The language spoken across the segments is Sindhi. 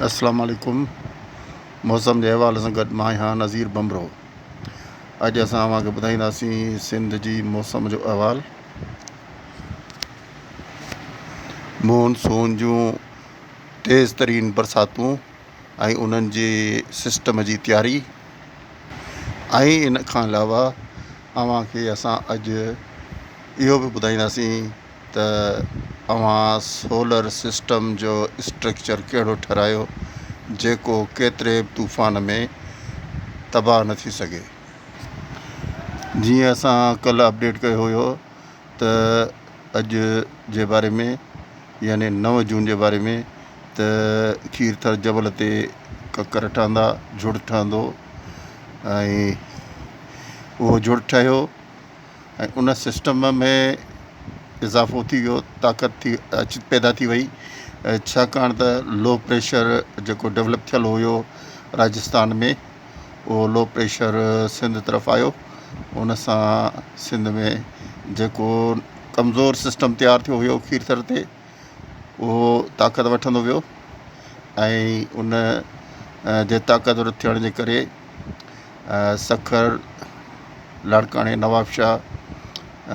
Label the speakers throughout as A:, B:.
A: السلام عليڪم موسم جي حوالي سان گڏ مان آهيان نظير بمرو اڄ اسان اوهان کي ٻڌائينداسين سنڌ جي موسم جو احوال مون سون جون تيز ترين برساتون ۽ انهن جي سسٽم جي تياري ۽ ان کان علاوه اوهان کي اسان اڄ اهو به ٻڌائينداسين ته اوهان سولر سسٽم جو اسٽرڪچر ڪهڙو ٺهرايو جيڪو ڪيتري به طوفان ۾ تباهه نه ٿي سگهي جيئن اسان ڪلهه اپڊيٽ ڪيو هيو ته اڄ جي باري ۾ يعني نو جون جي باري ۾ ته کير ٿر جبل تي ڪڪر ٺهندا جڙ ٺهندو ۽ اهو جڙ ٺهيو ۽ ان سسٽم ۾ اضافو ٿي ويو طاقت ٿي اچ پيدا ٿي وئي ڇاڪاڻ ته لو پريشر جيڪو ڊولپ ٿيل هيو راجستان ۾ اهو لو پريشر سنڌ طرف آيو ان سان سنڌ ۾ جيڪو ڪمزور سسٽم تيار ٿيو هيو کير ٿر تي اهو طاقت وٺندو ويو ۽ ان جي طاقتور ٿيڻ جي ڪري سکر، لاڙڪاڻي، نوابشاهه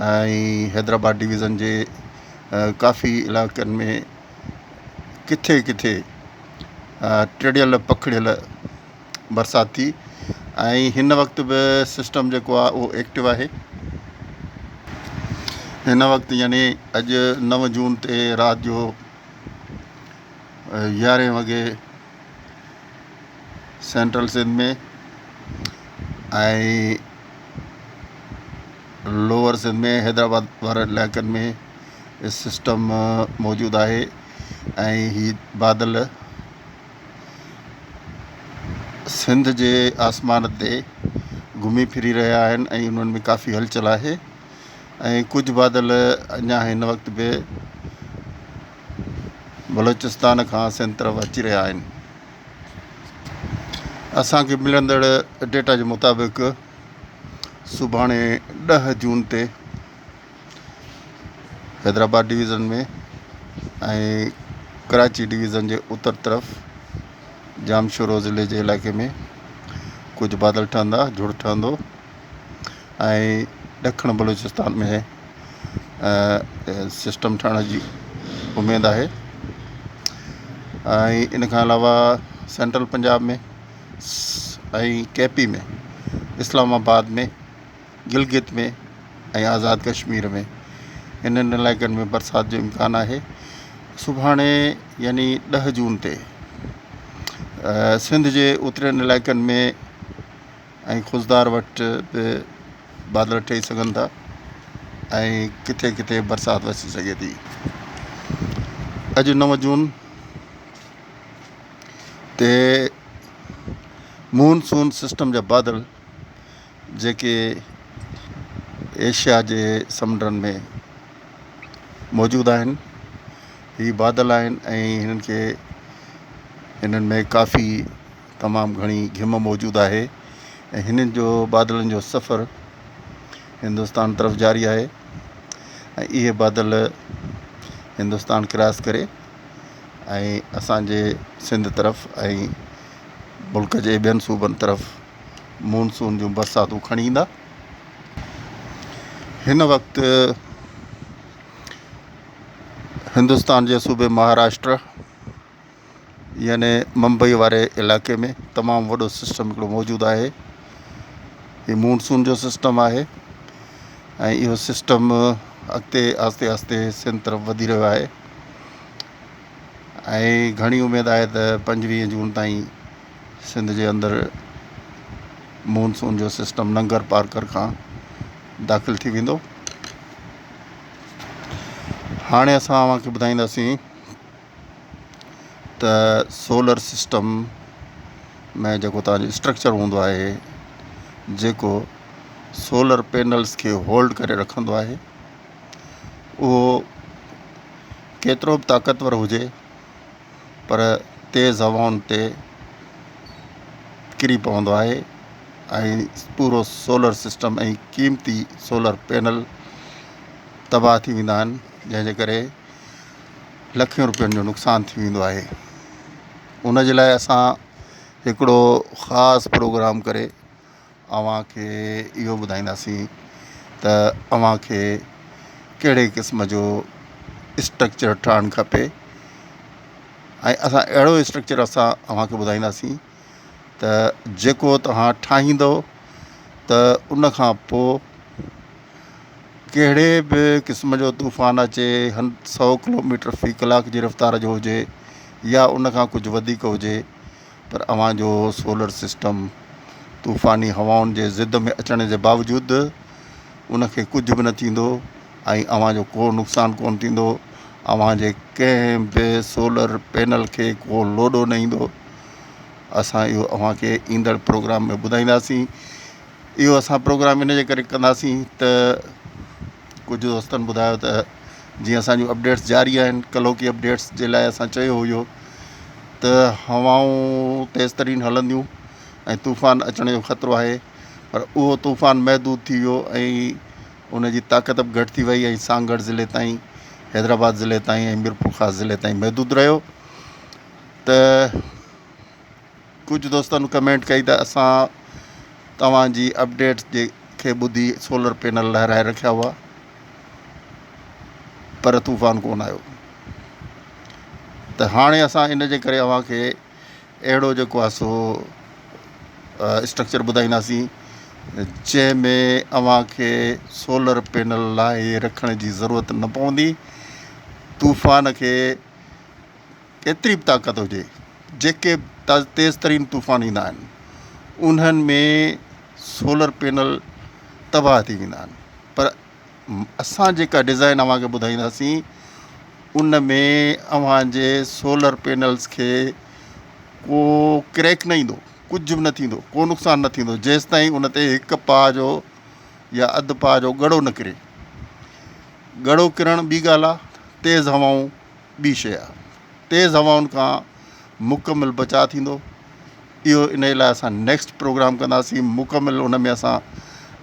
A: ۽ حيدرآباد ڊويزن جي ڪافي علائقن ۾ ڪٿي ڪٿي ٽڙيل پکڙيل برسات ٿي ۽ هن وقت به سسٽم جيڪو آهي اهو ايڪٽو آهي هن وقت يعني اڄ نو جون تي رات جو يارهين وڳي سينٽرل سنڌ ۾ ۽ لوئر سنڌ ۾ حيدرآباد وارن علائقن ۾ سسٽم موجود آهي ۽ هي بادل سنڌ جي آسمان تي گهمي ڦري رهيا آهن ۽ انهن ۾ ڪافي هلچل آهي ۽ ڪجهه بادل اڃا هن وقت به بلوچستان کان سنڌ طرف اچي رهيا آهن اسان کي ملندڙ ڊيٽا جي مطابق سڀاڻي ڏهه جون تي حيدرآباد ڊويزن ۾ ڪراچي ڊويزن جي اتر طرف جامشورو ضلعي جي علائقي ۾ ڪجهه بادل ٺهندا جھڙ ٺهندو ۽ ڏکڻ بلوچستان ۾ سسٽم ٺهڻ جي اميد آهي ۽ ان کان علاوه central Punjab ۾ ۽ K P ۾ Islamabad ۾ Gilgit ۾ ۽ Azad Kashmir ۾ انهن علائقن ۾ برسات جو امڪان آهي سڀاڻي يعني ڏهه جون تي سنڌ جي اترين علائقن ۾ ۽ خضدار وٽ به بادل ٺهي سگهن ٿا ۽ ڪٿي ڪٿي برسات وسي سگهي ٿي. اڄ نو جون تي مون سون سسٽم جا بادل جيڪي ايشيا جي سمنڊن ۾ موجود آهن هي بادل آهن ۽ هنن کي هنن ۾ ڪافي تمام گهڻي گهم موجود آهي ۽ هنن جو بادلن جو سفر هندستان طرف جاري آهي ۽ اهي بادل هندستان ڪراس ڪري ۽ اسان جي سنڌ طرف ۽ ملڪ جي ٻين صوبن طرف مونسون جون برساتون کڻي ايندا هن وقت هندستان جي صوبي مهاراشٽر يعني ممبئي واري علائقي ۾ تمام وڏو سسٽم هڪڙو موجود آهي هي مونسون جو سسٽم آهي ۽ اهو سسٽم اڳتي آهستي آهستي سنڌ طرف وڌي رهيو آهي ۽ گهڻي اميد آهي ته پنجويهه جون تائين سنڌ جي اندر مونسون جو سسٽم ننگر پارڪر کان داخل ٿي ويندو هاڻي اسان اوهان کي ٻڌائينداسين ته سولر سسٽم ۾ جيڪو توهان جو اسٽرڪچر هوندو آهي جيڪو سولر پينلز کي هولڊ ڪري رکندو آهي اهو ڪيترو به طاقتور هجي پر تيز هوائن تي ڪري پوندو آهي ۽ پورو سولر سسٽم ۽ قيمتي سولر پينل تباهه ٿي ويندا آهن جنهن جي ڪري لکين روپين جو نقصان ٿي ويندو آهي ان جي لاء اسان هڪڙو خاص پروگرام ڪري اوهان کي اهو ٻڌائينداسين ته اوهان کي ڪهڙي قسم جو اسٽرڪچر ٺهڻ کپي ۽ اسان اهڙو اسٽرڪچر اسان اوهان کي ٻڌائينداسين ته جيڪو توهان ٺاهيندؤ ته ان کان پوء ڪهڙي به قسم جو طوفان اچي هن سؤ ڪلو ميٽر في ڪلاڪ جي رفتار جو هجي يا ان کان ڪجهه وڌيڪ هجي پر اوهان جو سولر سسٽم طوفاني هوائن جي زد ۾ اچڻ جي باوجود ان کي ڪجهه به نه ٿيندو ۽ اوهان جو ڪو نقصان ڪونه ٿيندو اوهان جي ڪنهن به سولر پينل کي ڪو لوڏو نه ايندو اسان اهو اوهان کي ايندڙ پروگرام ۾ ٻڌائينداسين اهو اسان پروگرام ان جي ڪري ڪنداسين ته ڪجهه دوستن ٻڌايو ته جيئن اسانجو اپڊيٽس جاري آهن ڪلهو ڪي اپڊيٽس جي لاء اسان چيو هيو ته هوائون تيز ترين هلنديون ۽ طوفان اچڻ جو خطرو آهي پر اهو طوفان محدود ٿي ويو ۽ ان جي طاقت به گهٽ ٿي وئي ۽ سانگهڙ ضلعي تائين حيدرآباد ضلعي تائين ۽ ميرپورخاص ضلعي تائين محدود رهيو ته ڪجهه دوستن ڪمينٽ ڪئي ته اسان توهان جي اپڊيٽس جي کي ٻڌي سولر پينل لهرائي رکيا هئا پر طوفان ڪونه آيو ته هاڻي اسان ان جي ڪري اوهان کي اهڙو جيڪو آهي سو اسٽرڪچر ٻڌائينداسين جنهن ۾ اوهان کي سولر پينل لاهي رکڻ جي ضرورت نه پوندي طوفان کي ڪيتري به طاقت هجي جيڪي به تيز ترين طوفان ايندا آهن انهن ۾ سولر پينل تباهه ٿي ويندا آهن پر اسان جيڪا ڊزائن اوهان کي ٻڌائينداسين ان ۾ اوهان جي سولر پينلز کي ڪو ڪريڪ نه ايندو ڪجهه به نه ٿيندو ڪو نقصان نه ٿيندو جيستائين ان تي هڪ پاء جو يا اڌ پاء جو ڳڙو نه ڪري ڳڙو ڪرڻ ٻي ڳالهه آهي تيز هوائون ٻي شيء آهي. تيز هوائن کان مڪمل بچاء ٿيندو. اهو انهي لاء اسان نيڪسٽ پروگرام ڪنداسين مڪمل ان ۾ اسان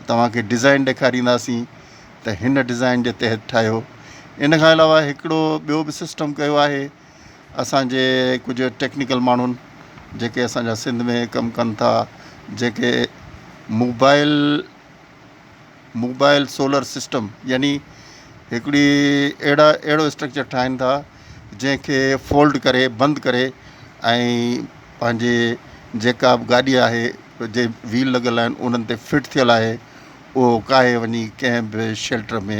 A: توهان کي ڊزائين ڏيکارينداسين ته هن ڊزائين جي تحت ٺاهيو. ان کان علاوه هڪڙو ٻيو به سسٽم ڪيو آهي اسان جي ڪجهه ٽيڪنيڪل ماڻهن جيڪي اسان جا سنڌ ۾ ڪم ڪن ٿا جيڪي موبائل موبائل سولر سسٽم يعني هڪڙي اهڙا اهڙو اسٽرڪچر ٺاهين ٿا جنهن کي فولڊ ڪري بند ڪري ۽ پنهنجي جيڪا به گاڏي آهي جي ويل لڳل آهن انهن تي فٽ ٿيل آهي اهو ڪاهي وڃي ڪنهن به شيلٽر ۾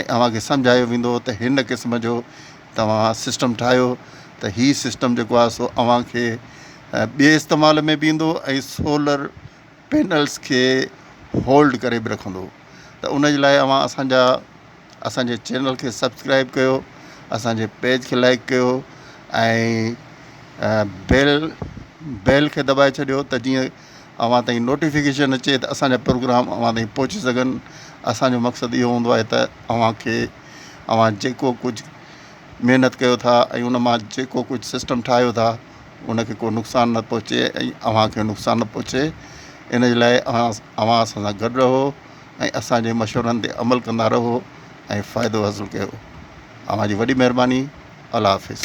A: ۽ اوهان کي سمجهايو ويندو ته هن قسم جو توهان سسٽم ٺاهيو ته هي سسٽم جيڪو آهي سو اوهان کي ٻئي استعمال ۾ به ايندو ۽ سولر پينلس کي هولڊ ڪري به رکندو ته ان جي لاء اوهان اسان جا اسان جي چينل کي سبسڪرائب ڪيو اسان جي پيج کي لائڪ ڪيو ۽ بيل بيل کي دٻائي ڇڏيو ته جيئن اوهان تائين نوٽيفڪيشن اچي ته اسان جا پروگرام اوهان تائين پهچي سگهن اسان جو مقصد اهو هوندو آهي ته اوهان کي اوهان جيڪو ڪجهه محنت ڪيو ٿا ۽ ان مان جيڪو ڪجهه سسٽم ٺاهيو ٿا ان کي ڪو نقصان نه پهچي ۽ اوهان کي نقصان نه پهچي ان جي لاء اوهان اوهان اسان سان گڏ رهو ۽ اسان جي مشورن تي عمل ڪندا رهو ۽ فائدو حاصل ڪيو اوهان جي وڏي مهرباني الله حافظ